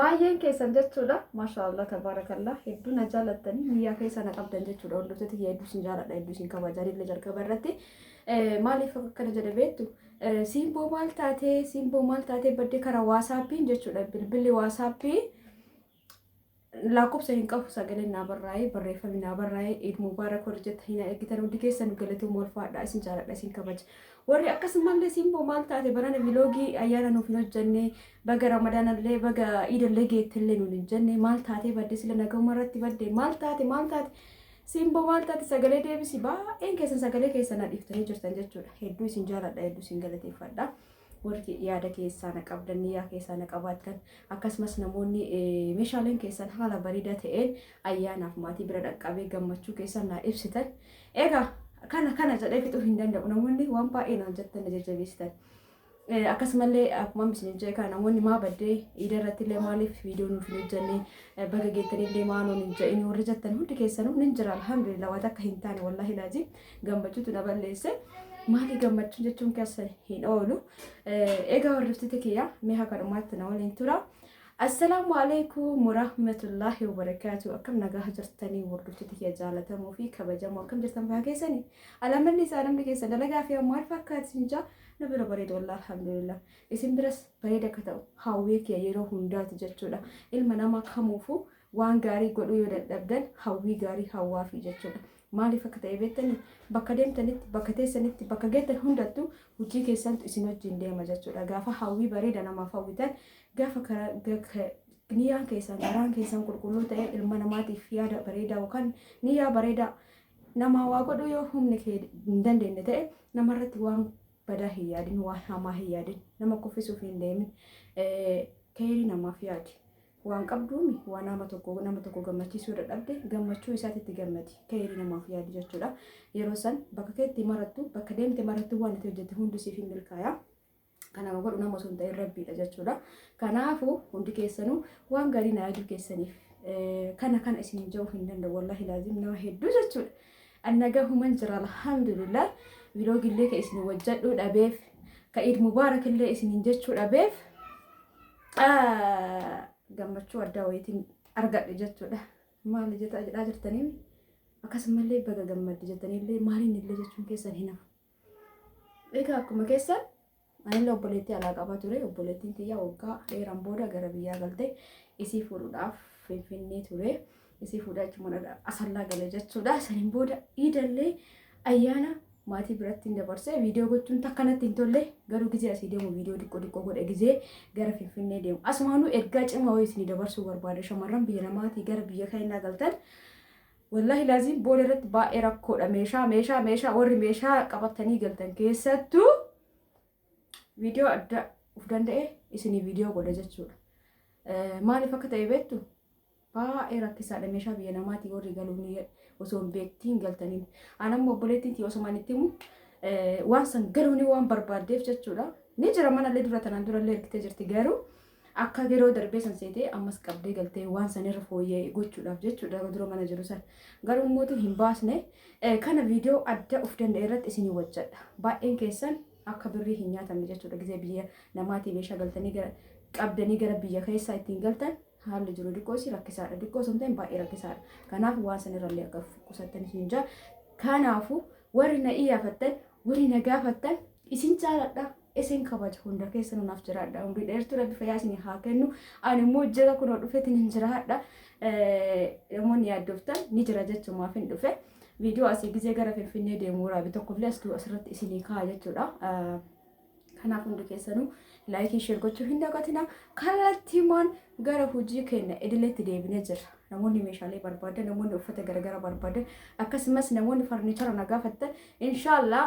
Baay'een keessan jechuudha. Maashaa Allah tabaarakallaa hedduu na jaalattanii niyyaa keessa na qabdan jechuudha. Hordoftoota tiyya hedduu isin jaaladha hedduu isin kabaja illee jalqaba irratti. Eh, Maaliif akkana jedhe beektu? Eh, Siimboo maal taatee siimboo maal taatee badde karaa waasaappiin jechuudha. Bilbilli waasaappii lakkoofsa hin qabu sagaleen naa barraa'ee barreeffamni naa barraa'ee Eid Mubaarak warri jettan hin eeggitan hundi keessan galatooma ulfaadhaa isin jaaladha isin kabaja. Warri akkasumallee simboo maal taate barana viloogii ayyaana nuuf hin hojjenne baga ramadaanallee baga iidallee geettellee nuun hin jenne maal taatee badde sila nagahuma irratti badde maal taate maal taate simboo maal taate sagalee deebisi baay'een keessan sagalee keessan dhiiftanii jirtan jechuudha hedduu isin jaaladha hedduu isin galateeffadha warri yaada keessaa na qabdan yaa keessaa na qabaattan akkasumas namoonni meeshaaleen keessan haala bareedaa ta'een ayyaanaaf maatii bira dhaqqabee gammachuu keessan naa ibsitan Egaa kana kana jedhee fixuu hin danda'u namoonni waan baay'ee naan jettan na jajjabeessitan. Eh, Akkasumallee akkuma isin jee kana namoonni maa baddee iida irratti illee maaliif viidiyoo nuuf hin hojjenne eh, baga geettan illee maa nuun hin jedhin warri jettan hundi keessanuu nin jira alhamdulillah waan akka hin taane wallaahi laazim gammachuutu na balleesse. Maali gammachuun jechuun keessa hin oolu. Eh, Egaa warriftiti kiyya mi'a kanumaatti na waliin tura. Assalaamu alaikum warahmatullahi wabarakatuh akkam nagaha jirtanii wardoftoota kiyya jaalatamuu fi kabajamoo akkam jirtan fayyaa keessanii alaamalli isaa namni keessa dalagaa fi maal fakkaati sin jaa na bira bareedu wallah alhamdulillah isin biras bareeda akka ta'u hawwii kiyya yeroo hundaati jechuudha ilma namaa kamuufuu Waan gaarii godhuu yoo dadhabdan hawwii gaarii hawwaafii jechuudha. Maaliif akka ta'e beektanii? Bakka deemtanitti, bakka teessanitti, bakka geettan hundattuu hojii keessantu isin wajjin deema jechuudha. Gaafa hawwii bareeda namaaf hawwitan, gaafa karaa niyyaan keessan, garaan keessan qulqulluu ta'e ilma namaatiif yaada bareedaa yookaan niyyaa bareedaa namaa waa godhuu yoo humni kee hin dandeenye ta'e namarratti waan badaa hin yaadin, waan hamaa hin yaadin, nama kuffisuuf hin deemin, keeyrii namaaf yaadi. Waan qabduun waan nama tokko nama tokko gammachiisuu yoo dadhabde gammachuu isaatti itti gammadi keeyrii namaaf yaadi jechuudha. Yeroo san bakka keetti marattu bakka deemte marattu waan itti hojjette hundi siif hin milkaaya. Kan nama godhu nama osoo hin ta'in rabbiidha jechuudha. Kanaafuu hundi keessanuu waan gaarii na yaaduu keessaniif kana kana isin ja'uu hin danda'u wallaahi laazim nama hedduu jechuudha. Annagaa human jira alhamdulillah viloogillee ka isin wajjadhuu dhabeef ka iid mubaarakillee isinin jechuu dhabeef gammachuu addaa wayiitiin argadhe jechuudha. Maal jetaa jedhaa jirtanii akkasumallee baga gammadde jettaniillee maaliin illee jechuun keessan hin hafu. Egaa akkuma keessan anillee obboleettii alaa qabaa ture obboleettiin tiyyaa waggaa dheeraan booda gara biyyaa galtee isii fuudhuudhaaf finfinnee ture. Isii fuudhee achumaan asallaa gale jechuudha. Saniin booda iidallee ayyaana maatii biratti hin dabarsee viidiyoo gochuun takka natti hin tolle garuu gizee asii deemu viidiyoo xiqqoo xiqqoo godhe gizee gara finfinnee deemu asumaanuu ergaa cimaa wayii isinii dabarsuu barbaada shamarran biyya namaatii gara biyya keenyaa galtan wallahi laaziin booda irratti baay'ee rakkoodha meeshaa meeshaa meeshaa warri meeshaa qabatanii galtan keessattuu viidiyoo adda of danda'e isinii viidiyoo godha jechuudha maaliif akka ta'e beektu Baay'ee rakkisaadha meeshaa biyya namaatii warri galuun osoo hin beektiin galtaniin. An amma obboleettiin tiyya osoo manitti himu waan san galuun waan barbaaddeef jechuudha. Ni jira manallee dura tanaan durallee ergitee jirti garuu akka yeroo darbee san seetee ammas qabdee galtee waan san irra fooyyee gochuudhaaf jechuudha dura mana jiru san. Garuu mootu hin baasne kana viidiyoo adda of danda'e irratti isinii wajjadha. Baay'een keessan akka birrii hin nyaatamne jechuudha gizee biyya namaatii meeshaa galtanii gara qabdanii gara biyya keessaa ittiin galtan Haalli jiru diqqoo isii rakkisaadha. Diqqoo osoo hin ta'in baay'ee rakkisaadha. Kanaaf waan san irrallee akka qusattan isin jaa. Kanaafuu warri na iyyafattan, warri na gaafattan isin jaaladha. Isin kabaja hunda keessa nunaaf jiraadha. Umrii dheertuu rabbi fayyaa isin haa kennu. Ani immoo jira kunoo dhufeetiin hin jiraadha. Namoonni yaaddoftan ni jira jechumaaf hin dhufe. Viidiyoo asii gizee gara Finfinnee deemu waraabe tokkollee asirratti isinii kaa'a jechuudha. Kanaaf hundi keessanuu laayikii sheer gochuu hin dagatina. Kallattiimaan gara hojii keenya idileetti deebinee jirra. Namoonni meeshaalee barbaadan, namoonni uffata garagara barbaadan, akkasumas namoonni farniichara na gaafattan, inshaallah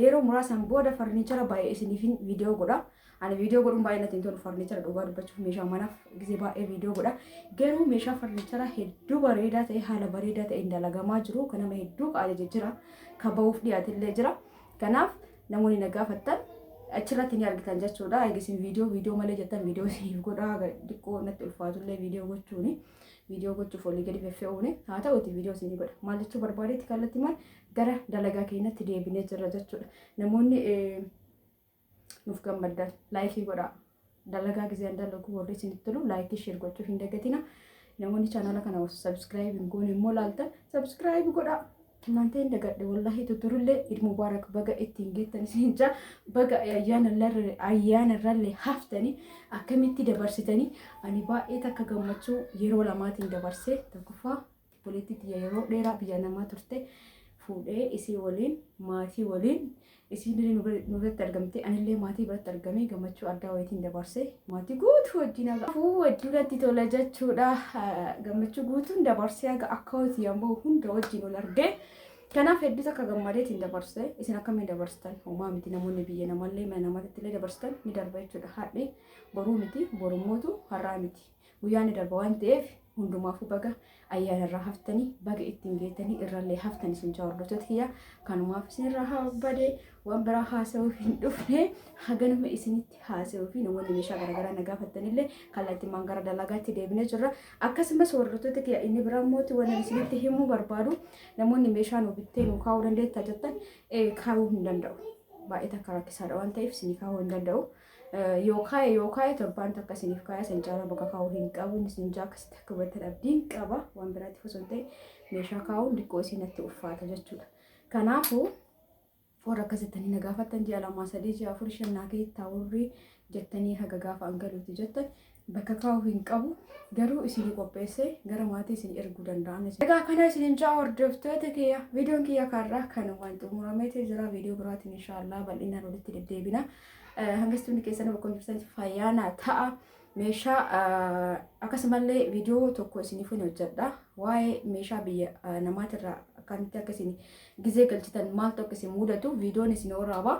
yeroo muraasaan booda farniichara baay'ee isiniifin viidiyoo godha. Ani viidiyoo godhuun baay'ee natti hin tolu farniichara dhugaa dubbachuuf meeshaa manaaf gisee baay'ee viidiyoo godha. Garuu meeshaa farniichara hedduu bareedaa ta'e haala bareedaa ta'een dalagamaa jiru. Kan nama hedduu qaajajee jira. Kan ba'uuf dhiyaatillee jira. Kanaaf Namoonni na gaafattan achirratti ni argitan jechuudha. Egaa isin viidiyoo viidiyoo malee jettan viidiyoo isiniif godhaa xiqqoo natti ulfaatullee viidiyoo gochuuni. Viidiyoo gochuuf olii gadi feffe'uuni. Haa ta'uuti viidiyoo isinii godha. Maal jechuu barbaadeetti kallattii maal gara dalagaa keenyatti deebinee jirra jechuudha. Namoonni nuuf gammaddan laayikii godhaa. Dalagaa gizeen dalaguu warri isinitti tolu laayikii sheer gochuu hin dagatina. Namoonni chaanala kana osoo sabiskiraayibii hin goone immoo laaltan sabiskiraayibii godhaa. Maantee hin dagadhe wallaahi tutturullee Eid Mubarak baga ittiin geettan isin jaa baga ayyaana irrallee haftanii akkamitti dabarsitanii ani baay'ee takka gammachuu yeroo lamaatiin dabarsee tokkoffaa Obboleettii tiyya yeroo dheeraa biyya namaa turte fuudhee isii waliin maatii waliin isiin illee nu bira- nu biratti argamte anillee maatii biratti argamee gammachuu addaa wayitiin dabarse maatii guutuu wajjin haga afuu wajjin natti tola jechuudha Ah, gammachuu guutuun dabarsee haga akka hoti yammoo hunda wajjin wal argee kanaaf hedduus akka gammadeetiin dabarse isin akkamiin dabarsitan homaa miti namoonni biyya namallee mana namaatti illee dabarsitan ni darba jechuudha hadhi boruu miti borumootu har'aa miti Guyyaa ni darba waan ta'eef hundumaafuu baga ayyaana irraa haftanii baga ittiin geetanii irrallee haftan isin jaa hordoftoota kiyya kanumaaf isin irraa haa bade waan biraa haasa'uu hin dhufne haganuma isinitti haasa'uu fi namoonni meeshaa garaagaraa na gaafattanillee kallattimaan gara dalagaatti deebinee jirra akkasumas hordoftoota kiyya inni biraa mooti waan isinitti himuu barbaadu namoonni meeshaa nu bittee nu kaa'uu dandeettaa jettan eh, kaa'uu hin danda'u baay'ee takka rakkisaadha waan ta'eef isin kaa'uu hin danda'u. Yoo kaa'e yoo kaa'e torbaan takka isiniif kaa'e san caalaa bakka kaa'uu hin qabu inni isin jaa akkasitti akka hubattan abdiin qaba waan biraatiif osoo hin ta'in meeshaa kaa'uun diqqoo isinatti uffaata jechuudha. Kanaafuu warra akkas jettanii na gaafattan ji'a lamaa sadii ji'a afur shan naa keessa taa'urri jettanii haga gaafa an galuuti jettan bakka kaa'uu hin qabu garuu isinii qopheessee gara maatii isin erguu danda'a. Egaa kana isinin ja'a hordoftoota kiyya viidiyoon kiyya kanarraa kanumaan xumurameeti jira viidiyoo biraatiin inshaallah bal'inaan walitti deddeebina. Hangastuu hundi keessan bakka jirtan fayyaana ta'a. Meeshaa akkasumallee viidiyoo tokko isiniif hin hojjedha. Waa'ee meeshaa biyya namaatirraa akkamitti akka isin gizee galchitan maaltu akka isin mudatu viidiyoon isin waraaba.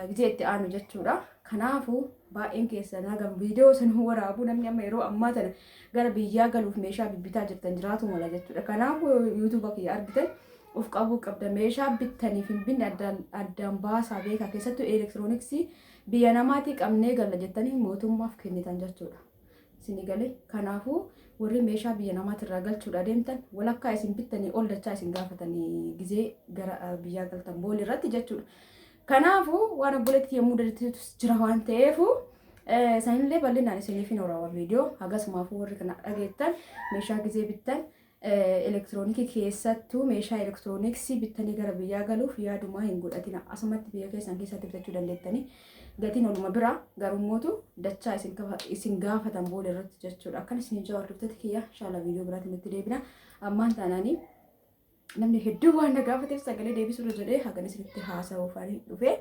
gizee itti aanu jechuudha. Kanaafuu baay'een keessan hagam viidiyoo san waraabuu namni amma yeroo ammaa tana gara biyyaa galuuf meeshaa bibbitaa jirtan jiraatu mala jechuudha. Kanaafuu yuutuuba kiyya argitan of qabuu qabda meeshaa bittaniif hin binne addaan baasaa beekaa keessattuu elektirooniksii biyya namaatii qabnee galla jettanii mootummaaf kennitan jechuudha. Isinii galee? Kanaafuu warri meeshaa biyya namaatirraa galchuudhaa deemtan walakkaa isin bittanii ol dachaa isin gaafatanii gizee gara biyyaa galtan booli irratti jechuudha. Kanaafuu waan obboleetti yommuu dadatiitus jira waan ta'eefu sanillee bal'inaan isiniif hin horaawa viidiyoo hagasumaafuu warri kana dhageettan meeshaa gizee bittan elektiroonikii keessattuu meeshaa elektirooniksii bittanii gara biyyaa galuuf yaadumaa hin godhatina. Asumatti biyya keessan keessatti bitachuu dandeettanii gatiin oluma bira garummootu dachaa isin kafa- isin gaafatan booda irratti jechuudha. Akkan isin jawaa dubbatti kiyya shaala viidiyoo biraatiin itti deebina. Ammaan taanaanii namni hedduu waan na gaafateef sagalee deebisuurra jedhee hagan isinitti haasa'uuf ani dhufe.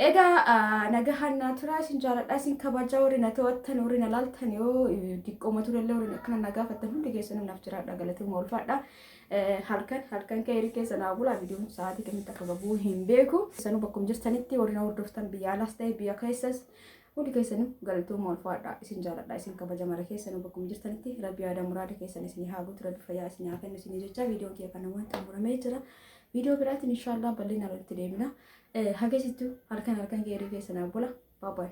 Egaa nagahaan naa turaa isin jaaladhaa isin kabajaa warri na to'attan warri na laaltan yoo diqqooma turellee warri akkana na gaafattan hundi keessanuu naaf jiraadha galatooma ulfaadha halkan halkan keerii keessa naa bulaa viidiyoon sa'aatii kamitti akka gabuu hin beeku keessanuu bakkum jirtanitti warri na hordoftan biyya alaas ta'e biyya keessas hundi keessanuu galatooma ulfaadha isin jaaladha isin kabaja mara keessanuu bakkum jirtanitti rabbi yaada muraada keessan isin haa guutu rabbi fayyaa isin haa kennu isin jecha viidiyoon kiyya kana waan xumuramee jira viidiyoo biraatiin inshaallah bal'inaan walitti deemina Hagesittu halkan halkan geerii keessa naaf bula. Bye bye.